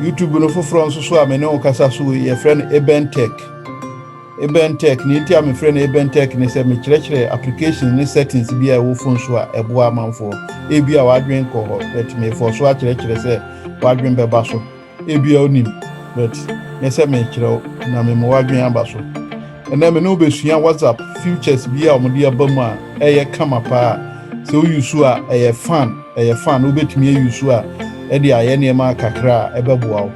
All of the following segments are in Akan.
YouTube no foforɔ nso so a me ne wo kasa so wei yɛfrɛ no Eben Tech. Eben Tech, nea enti a mefrɛ no Eben Tech ne sɛ mekyerɛkyerɛ applications ne settings bi a ɛwɔ phone so a ɛboa amanfoɔ. Ebi a w'adwene nkɔ hɔ, but mefɔ so akyerɛkyerɛ sɛ w'adwene bɛba so. Ebi a wonim, but nyɛ sɛ mekyerɛ wo na mema w'adwene aba so. Ɛnnɛ me ne wo bɛsua WhatsApp features bi a wɔde aba mu a ɛyɛ kama paa a sɛ wo use a ɛyɛ fun, ɛyɛ fun, wobɛtumi a use a ɛde ayɛ nneɛma kakra a ɛbɛboa wo.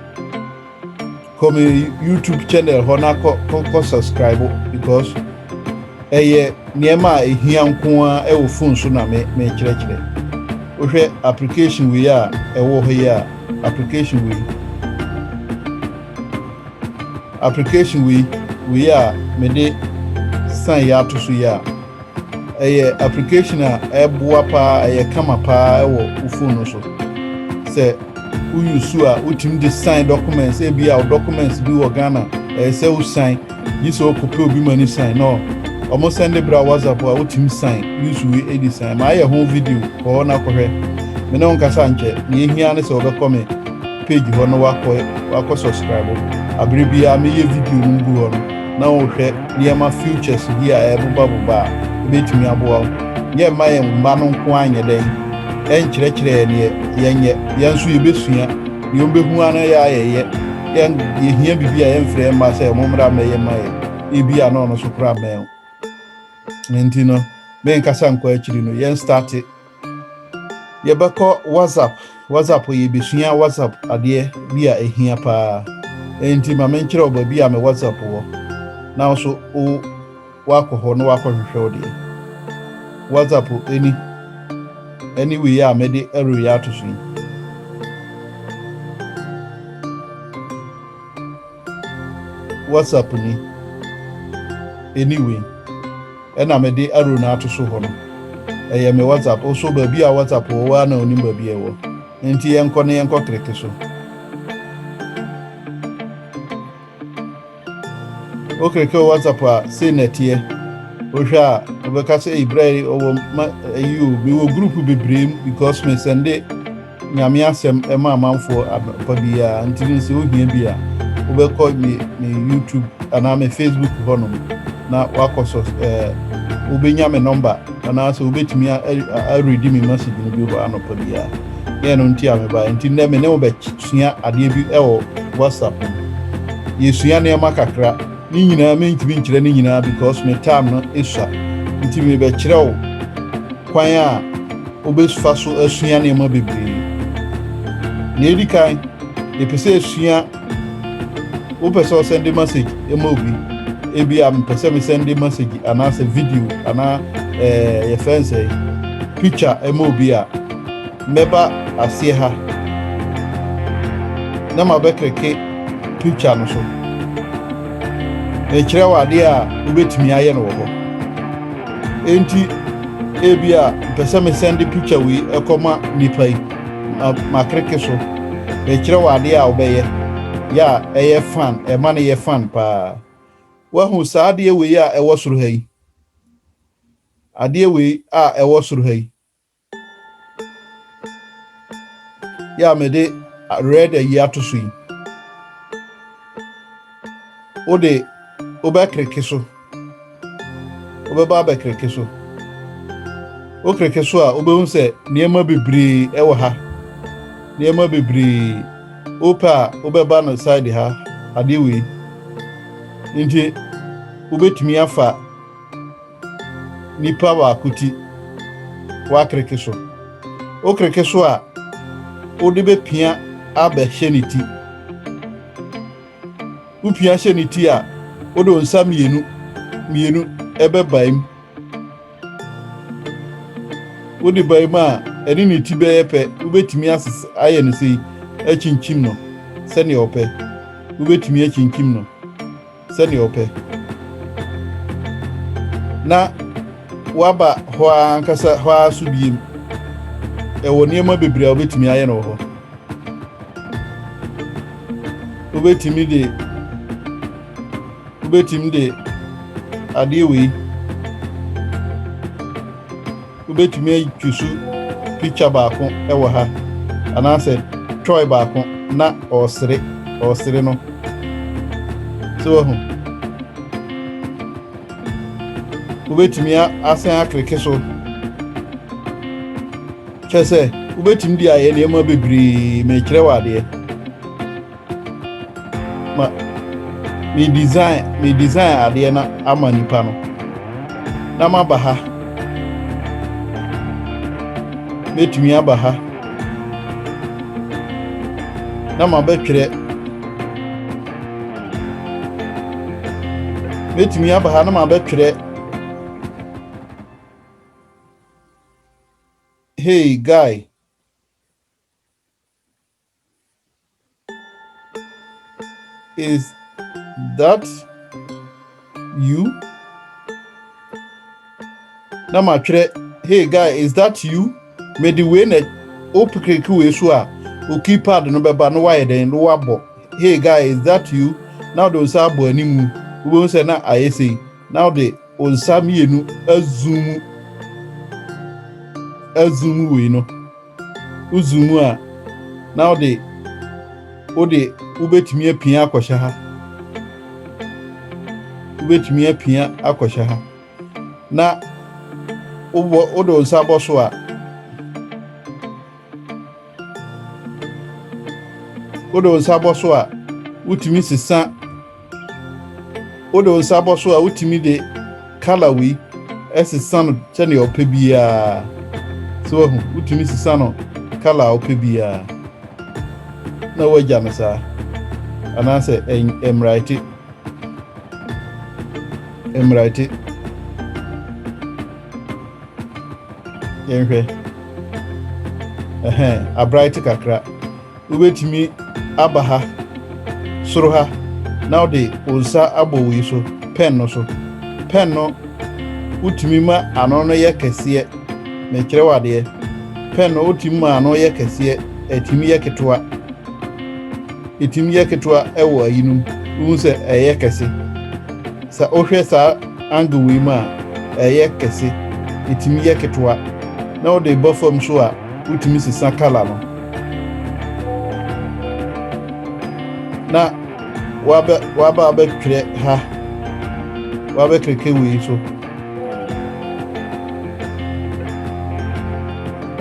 Kɔ me YouTube channel hɔ na kɔ, kɔ, kɔ subscribe because ɛyɛ nneɛma a ɛhia nko a ɛwɔ phone so na me, mekyerɛkyerɛ. Wohwɛ application wei a ɛwɔ hɔ yi a, application wei, Application wei wei a mede sign yɛ ato so yi a ɛyɛ application a ɛboa paa ɛyɛ kama paa ɛwɔ wo phone no so sɛ woyi su a wotumi de sign documents ebi a documents bi wɔ Ghana ɛyɛ sɛ wo sign yi sɛ ɔkɔpɛ obi ma ne sign no ɔmo sɛn de bra WhatsApp a wotumi sign yusu wi edi sign ma ayɛ ho video kɔɔ na kɔhwɛ me ne wo nkasa nkyɛ nea ehia ne sɛ wɔbɛkɔ me page hɔ na wakɔ wakɔ subscribe abere biara meyɛ video no gu hɔ no na wohwɛ nneɛma futures bi a ɛrebobabobɔ a ɛbɛtumi aboa wo yɛ mma yɛn mma no nko anyɛ dɛn ɛnkyerɛkyerɛ yɛ neɛ yɛnyɛ yɛn nso yɛbɛsua deɛ wobɛhu ano yɛ ayɛyɛ yɛn yɛhia biribi a yɛmfrɛ mma sɛ mo mmra mmɛyɛ ma yɛ ebi a na ɔno so kora mmɛn nti no menkasa nkɔ akyiri no yɛn starte Yɛbɛkɔ WhatsApp, WhatsApp yɛ besua WhatsApp adeɛ bi a ehia paa. Enti ma menkyerɛ wo baabi a me WhatsApp wɔ na wo nso wo wakɔ hɔ na wakɔhwehwɛ wo deɛ. WhatsApp ɛni ɛne wei a mɛde ɛreyɛ ato so yi. WhatsApp ni ɛni wei. Ɛna mede arrow no ato so hɔ no ɛyɛ me WhatsApp oh so baabi a WhatsApp wɔ woaa na onim baabi a ɛwɔ enti yɛnkɔ na yɛnkɔ click so wo click wɔ WhatsApp a sei na ɛteɛ wohwɛ a wobɛka sɛ eyi berɛ a ɔwɔ ma ayi o mewɔ group bebree mu because me sɛnde Nyame asɛm ma amanfoɔ anɔpa biara nti no sɛ wohia bi a wobɛkɔ me me YouTube anaa me Facebook hɔ nom na wakɔ so eh, wobɛnya me nɔmba anaasɛ wobɛtumi aredi me message no bi hɔ anɔpa biara yɛ no nti a mebaeɛ nti nnɛ me ne wobɛsua adeɛ bi wɔ WhatsApp no yɛsua nneɛma kakra Ne nyinaa mentumi nkyerɛ ne nyinaa because me time no esua nti mebɛkyerɛ wo kwan a wobɛfa so asua nneɛma bebree. Nea edi kan, yɛpɛ sɛ esua wopɛ sɛ ɔsɛnde message ma obi ebi a mepɛ sɛ mesɛnde message anaasɛ video anaa ɛɛ yɛfrɛ nsɛe picture ma obi a Mɛba aseɛ ha na mabɛkereke preacher no so. Merekyerɛ wo adeɛ a wobɛtumi ayɛ no wɔ hɔ. Enti ebi a mpɛ sɛ mesɛnde preacher wei ɛkɔ ma nnipa yi. Ma makereke so. Merekyerɛ wo adeɛ a wobɛyɛ yɛ a ɛyɛ fan, ɛma no yɛ fan paa. Woahu saa adeɛ wei a ɛwɔ soro ha yi? Adeɛ wei a ɛwɔ soro ha yi. Yɛ a mede red ayi ato so yi, wode wobɛkereke so, wobɛba abɛkereke so. Wokereke so a, wobɛhu sɛ nneɛma bebree wɔ ha, nneɛma bebree. Wopɛ a, wobɛba no side ha, adeɛ wei. Nti, wobɛtumi afa Nipa baako ti woakreke so. Wokreke so a, wode bɛpia abɛhyɛ ne ti. Wopia hyɛ ne ti a, wode wo nsa mmienu mmienu ɛbɛbae mu. Wode bae mu a, ɛne ne ti bɛyɛ pɛ. Wobɛtumi ayɛ no sei, akyinkyim no sɛdeɛ wopɛ. Wobɛtumi akyinkyim no. sɛnea ɔpɛ. Na waba hɔ ara ankasa hɔ ara so biem. Ɛwɔ nneɛma bebree a wobɛtumi ayɛ no wɔ hɔ. Wobɛtumi de wobɛtumi de adeɛ wei Wobɛtumi atwiso picture baako wɔ ha anaasɛ toy baako na ɔresere ɔresere no so wahu wobɛtumi asan akleke so kyɛ sɛ wobɛtumi de ayɛ nneɛma bebree mekyerɛ wɔ adeɛ ma me design me design adeɛ na ama nipa no na ma ba ha mɛtumi aba ha na ma bɛtwerɛ mɛtumi aba ha na ma bɛtwerɛ hey guy Is that you? Na matwerɛ, hey guy, is that you? Mede wei na wopekiriki wei so a, wo keypad no bɛba na woayɛ dɛn na woabɔ, hey guy, is that you? Na wode wo nsa abɔ anim, wobɛhu sɛ na ayɛ sei. Na ɔde wo nsa mmienu azuumu azuumu wei no wo zuumu a na wode wode wobɛtumi apia akɔhyɛ ha wobɛtumi apia akɔhyɛ ha na wobɔ wode wo nsa bɔ so a wode wo nsa bɔ so a wotumi sesa Wode wo nsa bɔ so a, wotumi de kala wei sesa no sɛnea ɔpɛ biara. So wahu? Wotumi sesa no kala a ɔpɛ biara na woagya no saa, anaasɛ ɛmmraete mmraete. Yɛnhwɛ ɛhɛn abraete kakra. Wubetumi aba ha, soro ha, na wode wo nsa abɔ wei so, pɛn no so. Pɛn no, wotumi ma ano no yɛ kɛseɛ, mekyerɛ wo adeɛ. Pɛn no, wotumi ma ano yɛ kɛseɛ, ɛtumi yɛ ketewa. Ɛtumi yɛ ketewa wɔ ayi no mu, wohu sɛ ɛyɛ kɛse. Sɛ wohwɛ saa angle wei mu a, ɛyɛ kɛse, ɛtumi yɛ ketewa. Na wode ba fam so a, wotumi sesa kala no. na waba waba abɛtwerɛ ha wabɛkeke wei so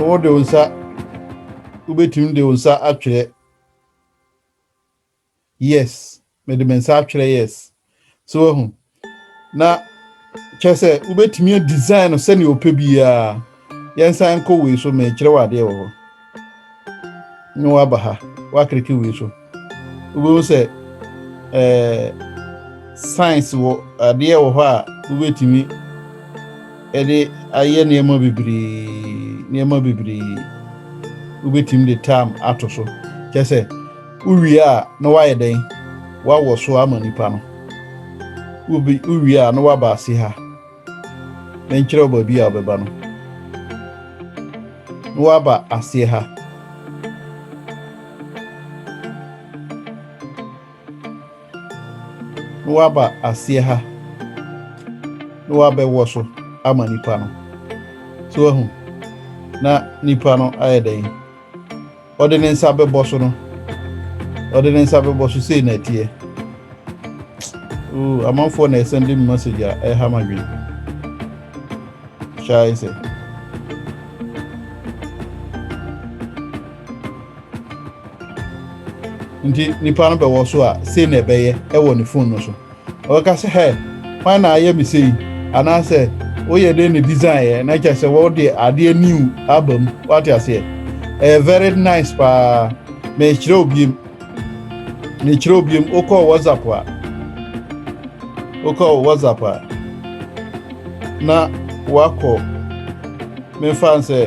wode wo nsa wobɛtumi de wo nsa atwerɛ Yes. Mede me nsa atwerɛ yes. So wahu? Na kyerɛ sɛ wobɛtumi a design no sɛnea ɔpɛ biara. Yɛnsan nkɔ wei so mekyerɛ wɔ adeɛ wɔ hɔ. Ne waba ha, wakreke wei so. Wobɛhu sɛ eh, science wɔ adeɛ wɔ hɔ a wobɛtumi de ayɛ nneɛma bebree nneɛma bebree wobɛtumi de tam ato so kyɛ sɛ Wowie a, na woayɛ dɛn? Woawɔ so ama nnipa no. Wobe, wowie a, na woaba ase ha. Menkyerɛ wo baabi a wobɛba no. Na woaba aseɛ ha. Na woaba aseɛ ha. Na woabɛwɔ so ama nnipa no. So wahu? Na nnipa no ayɛ dɛn? Ɔde ne nsa bɛbɔ so no. Ɔde ne nsa bɛbɔ so sei na ɛteɛ. Ooh, amanfoɔ na ɛsɛn de message a ɛha ma dwen. Hyɛ ayɛ sɛ. Nti nipa no bɛwɔ so a sei na ɛbɛyɛ ɛwɔ ne phone no so. Ɔbɛka sɛ, Hɛ! Hwan na ayɛ me sei? Anaasɛ, Woyɛ dɛn na disaeɛ? Na kyerɛ sɛ wode adeɛ new aba mu. Woate aseɛ? Ɛyɛ very nice paa. Merekyerɛ wo biom. Merekyerɛ wo biom. Wokɔ WhatsApp a, wokɔ WhatsApp a, na woakɔ. Memfa nsɛ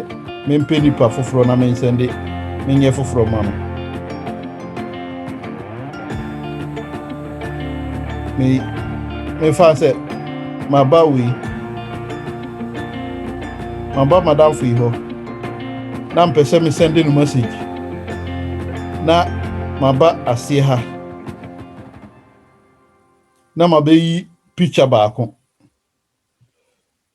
mempɛ nipa foforɔ na mensɛnde menyɛ foforɔ ma no. Me memfa nsɛ maba wei maba madamfo yi hɔ na mpɛ sɛ mesɛnde no message na maba aseɛ ha na mabɛyi picture baako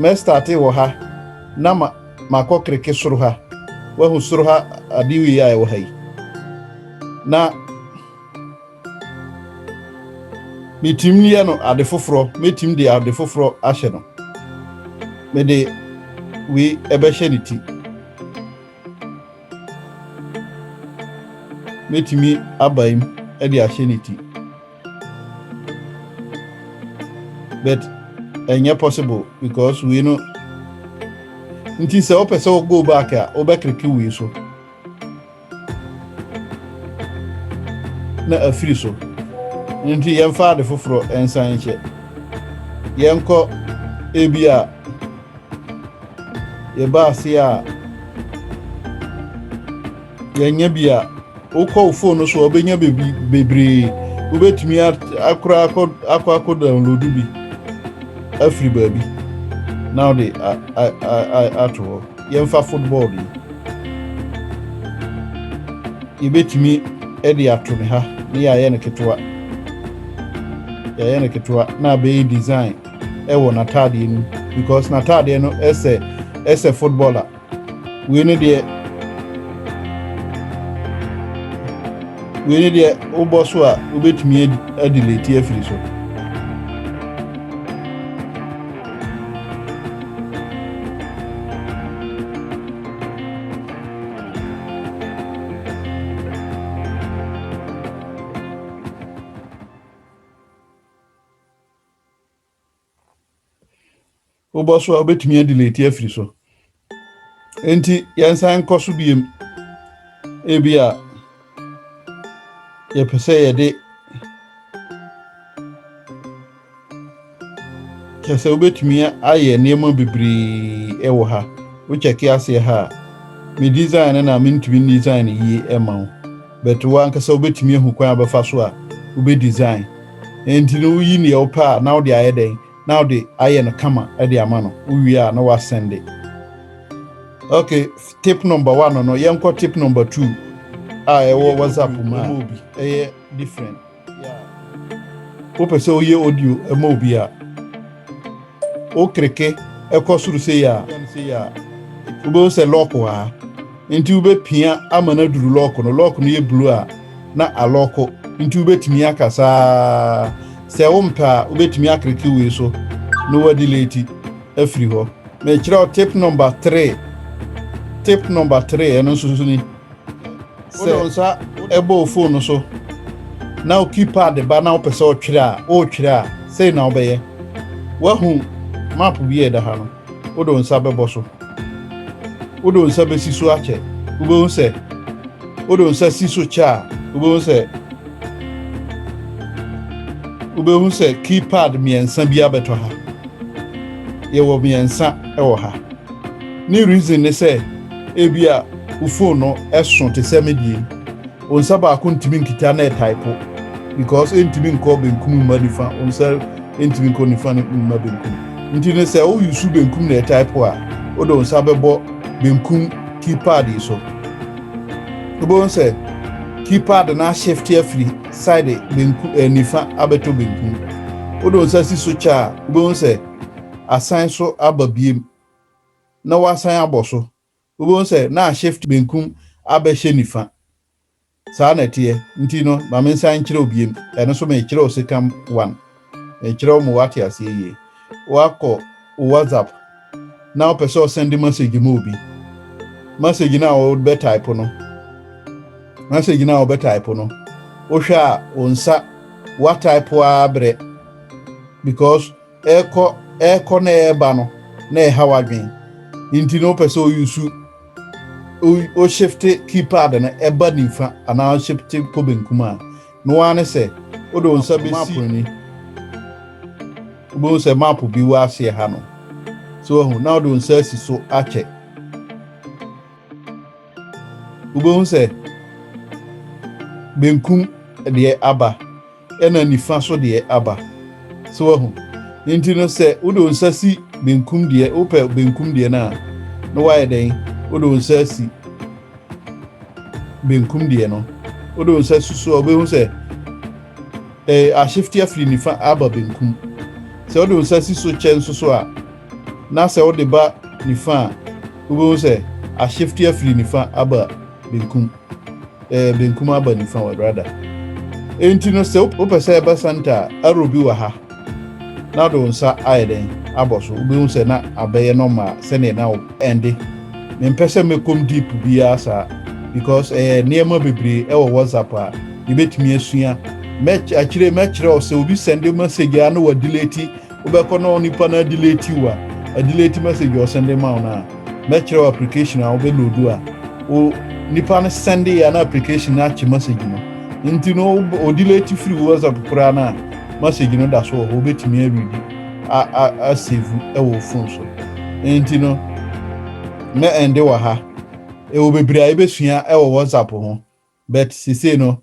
Mɛ starte wɔ ha na ma makɔ kreke soro ha wahu soro ha ade wei a ɛwɔ ha yi na metim yɛ no ade foforɔ metim de ade foforɔ ahyɛ no mede wei ɛbɛhyɛ ne ti metumi abaim ɛde ahyɛ ne ti. but ɛnyɛ possible because wei no nti sɛ wopɛ sɛ wo go back a wobɛkreke wei so na afiri so nti yɛmfa ade foforɔ nsan nhyɛ yɛnkɔ ebi a yɛba ase a yɛnyɛ bi a wokɔ wo phone no so a wobɛnya bebi bebree wobɛtumi akora akɔ akɔ akɔ download bi afiri baabi na wode ato hɔ yɛmfa football yi yɛbɛtumi de ato ne ha ne yɛayɛ no ketewa yɛayɛ no ketewa na abɛyɛ design ɛwɔ n'ataadeɛ no because n'ataadeɛ no ɛsɛ ɛsɛ footballer Wei ne deɛ wei ne deɛ wobɔ so a wobɛtumi adi leti afiri so wobɔ so a wobɛtumi adelete afiri so enti yɛnsan nkɔ so biem ebi a yɛpɛ sɛ yɛde kyɛ sɛ wobɛtumi ayɛ nneɛma bebree wɔ ha wokyɛke aseɛ ha a me design no na mentumi design yie ma wo But wo ankasa wobɛtumi ahu kwan a wobɛfa so a wobɛ design. Ɛnti no woyi neɛ wopɛ a na wode ayɛ dɛn? Na wode ayɛ no kama de ama no. Wowie a na woasɛnde. Ok, tip number one no, yɛnkɔ tip number two a ɛwɔ WhatsApp mu a ɛyɛ different. Wopɛ sɛ woyɛ audio ma obi a, wokreke kɔ soro sei a, wobɛhu sɛ lock wɔ ha. Nti wobɛpia ama no aduru lock no. Lock no yɛ blue a na alɔko. Nti wobɛtumi aka saa. Sɛ wompɛ a, wobɛtumi akreke wei so na woadeleti afiri hɔ. Mekyerɛ wo tip number three. Tip number three, ɛno nso ni. wode nsa ɛbɔ wo fon no so na wo keypad ba na wopɛ sɛ ɔtwerɛ a wotwerɛ a sei na wobɛyɛ woahu map bi a ɛda ha no wode wo nsa bɛbɔ so wode wo nsa bɛsi so akyɛ wobɛhu sɛ wode wo nsa si so kyɛ a wobɛhu sɛ wobɛhu sɛ keypad mmiɛnsa bi abɛtɔ ha yɛwɔ mmiɛnsa wɔ ha Ne reason ne sɛ ebia wo phone no ɛso te sɛ me deɛ yi, wo nsa baako ntumi nkita na ɛtaipo because ɛntumi nkɔ benkum mma nifa, wo nsa ɛntumi nkɔ nifa mma benkum. Nti no sɛ wo use benkum na ɛtaipo a, wode wo nsa bɛbɔ benkum keypad yi so. Wobɛhu sɛ keypad no ashifte afiri side benku, eh, nifa abɛtɔ benkum. Wode wo nsa si so kyɛ a, wobɛhu sɛ asan so aba biom na wasan abɔ so, wobɛhu sɛ na ashift benkum abɛhyɛ nifa. Saa na ɛteɛ. Nti no, ma me nsan nkyerɛ wo biom. Ɛno nso merekyerɛ wo second one. Merekyerɛ wo ma woate aseɛ yie. Woakɔ wo WhatsApp na wopɛ sɛ ɔsɛnde message ma obi. Message no a wobɛtaepo no, message no a wobɛtaepo no, wohwɛ a wo nsa woataepo ara berɛ because Ɛrekɔ, ɛrekɔ na ɛreba no, na ɛha w'adwen. Nti no wopɛ sɛ oyusu, wohyefte keypad no ɛba nifa anaa wohyefte kɔ benkum a, ne woa ne sɛ wode wo nsa bɛsi map ni. Wobɛhu sɛ map bi wɔ aseɛ ha no. So wahu? Na wode wo nsa asi so akyɛ. Wobɛhu sɛ benkum deɛ aba. Ɛna nifa so deɛ aba. So wahu? Nti no sɛ wode wo nsa si benkum deɛ, wopɛ benkum deɛ no a, na woayɛ dɛn? Wode wo nsa asi benkum deɛ no. Wode wo nsa si so a, wobɛhu sɛ ɛ, ahyefte afiri nifa aba benkum. Sɛ wode wo nsa si so kyɛ nso so a, na sɛ wode ba nifa a, wobɛhu sɛ ahyefte afiri nifa aba benkum. Eh, benkum aba nifa wɔ brada. Enti no sɛ wopɛ sɛ ɛbɛ santa a, arrow bi wɔ ha. Na de wo nsa ayɛ dɛn abɔ so. Wobɛhu sɛ na abɛyɛ nɔma sɛdeɛ na ɛnde. Mempɛ sɛ mɛkɔm deep biara saa because ɛyɛ nneɛma bebree ɛwɔ WhatsApp a yɛbɛtumi asua. Mɛkyerɛ mɛkyerɛ wo sɛ obi sɛnde message a na wadelete Wobɛkɔ na onipa no adeleti wo a, adeleti message a ɔsɛnde ma wo no a, mɛkyerɛ wo application a wobɛloodu a o nipa no sɛnde yɛ a na application no akye message no. Nti no wo ɔdeleti firi wo WhatsApp koraa no a, message no da so wɔ hɔ, wobɛtumi aredi a a asevu wɔ wo phone so. Nti no mɛ ɛnde wɔ ha. Ɛwɔ bebree a yɛbɛsua wɔ WhatsApp ho, but sesei no